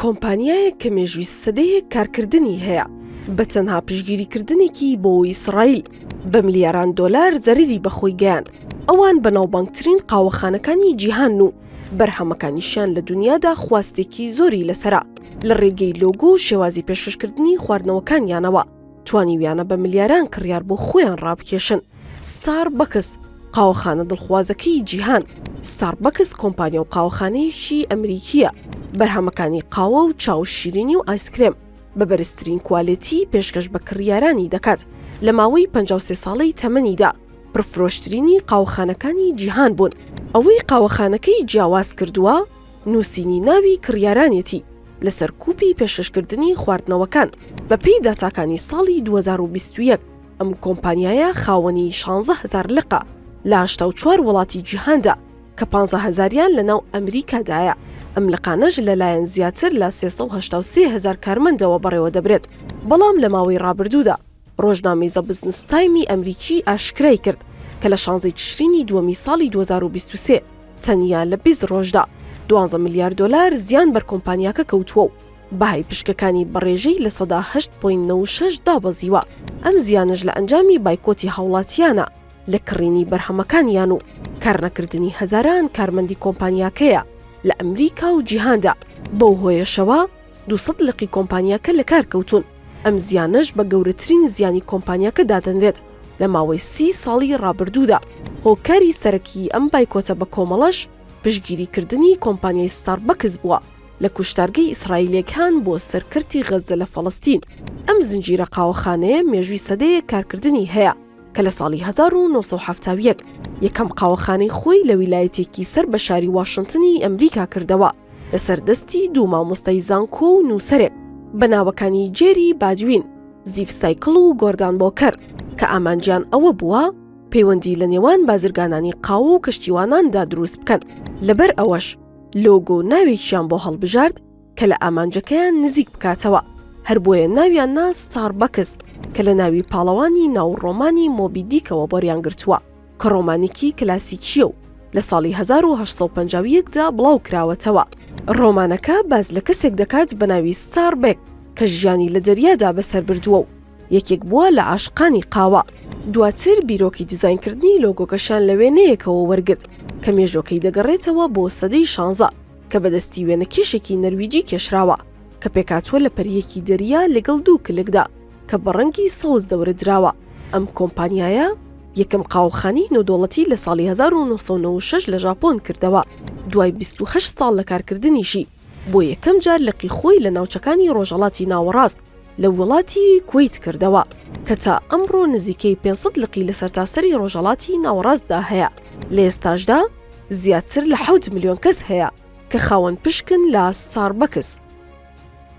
کۆمپانیایەک کە مێژووی سەدەیەک کارکردنی هەیە بە تەنها پشگیریکردنێکی بۆ ئیسرائیل بە ملیاران دۆلار زەرری بەخۆی گەیان ئەوان بەناوبانگترین قاوەخانەکانی جیهان و بەرهەمەکانیشیان لە دنیادا خواستێکی زۆری لەسرە لە ڕێگەی لۆگۆ و شێوازی پێشکەشکردنی خواردنەوەکانیانەوە. توانیویانە بە ملیاران کڕیار بۆ خۆیان ڕابکێشن ستار بەکس قاوەخانە دڵخوازەکەی جیهان ستار بەکس کۆمپانیا و قاوەخانەیەکی ئەمریکیە بەرهەمەکانی قاوە و چاو شیرینی و ئایسکرێم بە بەرزترین کوالێتی پێشکەش بە کڕیارانی دەکات لە ماوەی 53 ساڵەی تەمەنیدا پرفرۆشترینی قاوەخانەکانی جیهان بوون ئەوەی قاوەخانەکەی جیاواز کردووە نووسینی ناوی کڕیارانێتی لە سەرکوپی پێشکەشکردنی خواردنەوەکان، بەپێی داتاکانی ساڵی دوو هەزار و بیست و یەک ئەم کۆمپانیایە خاوەنی شانزە هەزار لقە لە هەشتا و چوار وڵاتی جیهاندا کە پانزە هەزاریان لەناو ئەمریکادایە، ئەم لقانەش لەلایەن زیاتر لە سێ سەد و هەشتا و سێ هەزار کارمەندەوە بەڕێوەدەبرێت، بەڵام لە ماوەی ڕابردوودا. ڕۆژنامەی زە بزنس تایمی ئەمریکی ئاشکرای کرد کە لە شانزەی تشرینی دووەمی ساڵی دوو هەزار و بیست و سێ تەنیا لە بیست ڕۆژدا دوانزە ملیار دۆلار زیان بەر کۆمپانیاکە کەوتووە و بەهای پشکەکانی بە ڕێژەی لە سەدا هەشت پۆینت نەوەد و شەش دابەزیوە، ئەم زیانەش لە ئەنجامی بایکۆتی هاوڵاتییانە لە کڕینی بەرهەمەکانیان و کارنەکردنی هەزاران کارمەندی کۆمپانیاکەیە لە ئەمریکا و جیهاندا، بەو هۆیەشەوە، دوو سەد لقی کۆمپانیاکە لەکار کەوتوون، ئەم زیانەش بە گەورەترین زیانی کۆمپانیاکە دادەنرێت لە ماوەی سی ساڵی ڕابردوودا، هۆکاری سەرەکیی ئەم بایکۆتە بەکۆمەڵەش پشتگیریکردنی کۆمپانیای ستاربەکس بووە لە کوشتارگەی ئیسرائیلییەکان بۆ سەر کەرتی غەززە لە فەڵەستین. ئەم زنجیرە قاوەخانەیە مێژووی سەدەیەک کارکردنی هەیە کە لە ساڵی هەزار و نۆ سەد و حەفتا و یەک یەکەم قاوەخانەی خۆی لە ویلایەتێکی سەر بە شاری واشنتنی ئەمریکا کردەوە، لەسەر دەستی دوو مامۆستای زانکۆ و نووسەرێک بە ناوەکانی جێری باجوین، زیف سایکڵ و گۆردان بۆکەر کە ئامانجیان ئەوە بووە پەیوەندی لە نێوان بازرگانانی قاوە و کەشتیواناندا دروست بکەن، لەبەر ئەوەش لۆگۆ و ناوێکیان بۆ هەڵبژارد کە لە ئامانجەکەیان نزیک بکاتەوە، هەر بۆیە ناویان نا ستاربەکس کە لە ناوی پاڵەوانی ناو ڕۆمانی مۆبی دیکەوە بۆریان گرتووە. کە ڕۆمانێکی کلاسیکییە و لە ساڵی هەزار و هەشت سەد و پەنجا و یەک دا بڵاو کراوەتەوە. ڕۆمانەکە باس لە کەسێک دەکات بە ناوی ستار بێک کە ژیانی لە دەریادا بەسەر بردووە و یەکێک بووە لە عاشقانی قاوە. دواتر بیرۆکی دیزاینکردنی لۆگۆکەشیان لە وێنەیەکەوە وەرگرت کە مێژووەکەی دەگەڕێتەوە بۆ سەدەی شانزە کە بە دەستی وێنەکێشێکی نەرویجی کێشراوە کە پێکهاتووە لە پەرییەکی دەریا لەگەڵ دوو کلکدا کە بە ڕەنگی سەوز دەورە دراوە. ئەم کۆمپانیایە یەکەم قاوەخانەی نێودەوڵەتی لە ساڵی 1996 لە ژاپۆن کردەوە، دوای بیست و هەشت ساڵ لە کارکردنیشی بۆ یەکەم جار لقی خۆی لە ناوچەکانی ڕۆژهەڵاتی ناوەڕاست لە ووڵاتی کوەیت کردەوە کە تا ئەمڕۆ نزیکەی پێنج سەد لقی لە سەرتاسەری ڕۆژهەڵاتی ناوەڕاستدا هەیە لە ئێستاشدا زیاتر لە حەوت ملیۆن کەس هەیە کە خاوەن پشکن لە ستاربەکس.